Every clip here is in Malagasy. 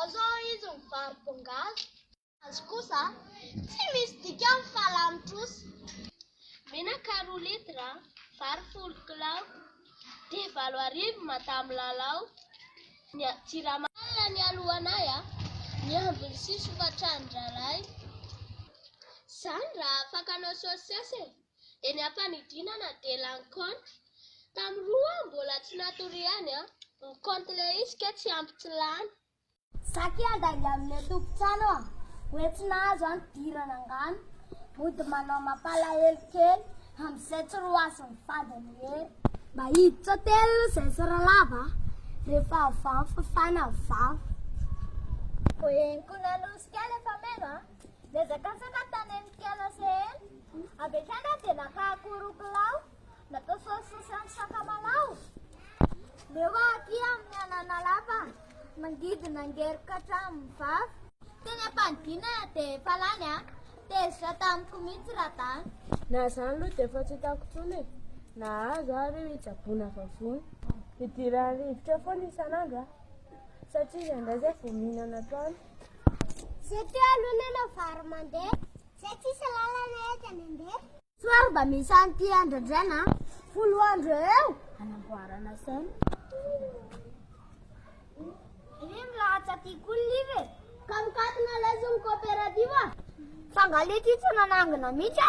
Azo hoy izy ny vary pongazy. Ny azy kosa tsy misy dikany fa lany trosa. Menaka roa litre, vary folo kilao, dia valo arivo madame lalao. Ny jirama. Alina nialohanay niandry ny sisy hofan-trano-drahalahy. Izany raha afaka hanao saosisy e! Eny ampanidinana dia lany compte. Tam roa mbola tsy natoriany an. Ny compte le izy kay tsy ampy tsy lany. Za ky handainga amle tompon-trano an. Hoe tsy nahazo an fidirana angano. Mody manao mampalahelo kely amzay tsy roasin'ny fady ny hery. Mba hiditra telo izay sy ralava a. Rehefa avy any fafana vava. Vao henoko nanosika ahy le fameno a. Niazakatsaka tany amin'ny mpiala sehena, avy hatrany aho dia naka akoho kilao, natao saosy sosy amin'ny sakamalao. Leo aho aty amin'ny anana lava, mangidy nangerika hatramin'ny vava. Teny am-panidina dia efa lany an, tezitra tamiko mihitsy radany. Na izany aloha dia efa tsy hitako intsony e, nahazo aho ireo hitsaboana vavony. Idiran'ny rivotra foana isan'andro an, satria izay indray izay vao mihinana atoandro. Zay teo aloha nanao vary mandeha. Zay tsisy lalana ety andeha. Soary mba misy an'ity andrandraina. Folo andro eo anamboarana saina. Ry milahatsa ty koa live. Ka mikatona lesy ny coopérative. Fa nga le ty tsy nanangina mihitsy.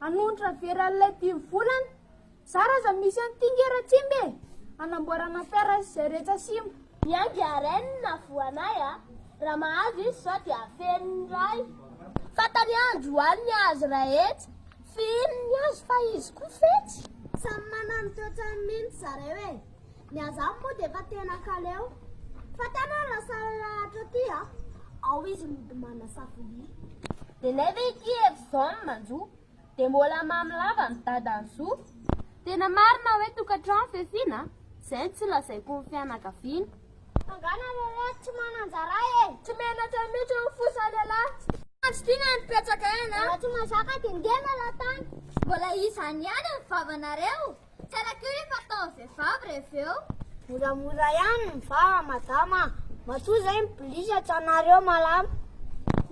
Hanonitra vera lait dimy volana. Zara aza misy an'i Tinge Ratsimba e! Hanamboarana perra izay rehetra simba. Miainga a Reine navoanay a. Raha mahazo izy zao dia afeniny iray. Fantany androany ny azy raetsy. Fihininy ny azy fa izy koa fetsy. Samy manana ny toetrany mintsy zareo e. Ny azany moa dia efa tena kaleo Fa tana ny lasary lahatra aty a Ao izy mody manasa vilia Dia nefa ity eto zao ny manjo Dia mbola mamy lava ny dadany zo Tena marina hoe tokantrano fiafiana Zay no tsy lazaiko ny fianakaviana Fa nga nareo reto tsy manan-jara e Tsy menatra mihitsy ny fo sa lehilahy Andry ty nga nipetraka eny a Raha tsy mazaka dia ndeha miala tany Mbola izany ihany ny vavanareo Tsara koa rehefa atao vehivavy reveo. Moramora ihany ny va madama a. Matoa zay ny police tsy anareo malama.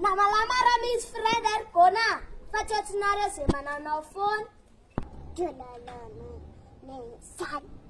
Na malama raha misy friend ary gôna fa tsy atsinareo ze mananao foana. Dra la la la la sale.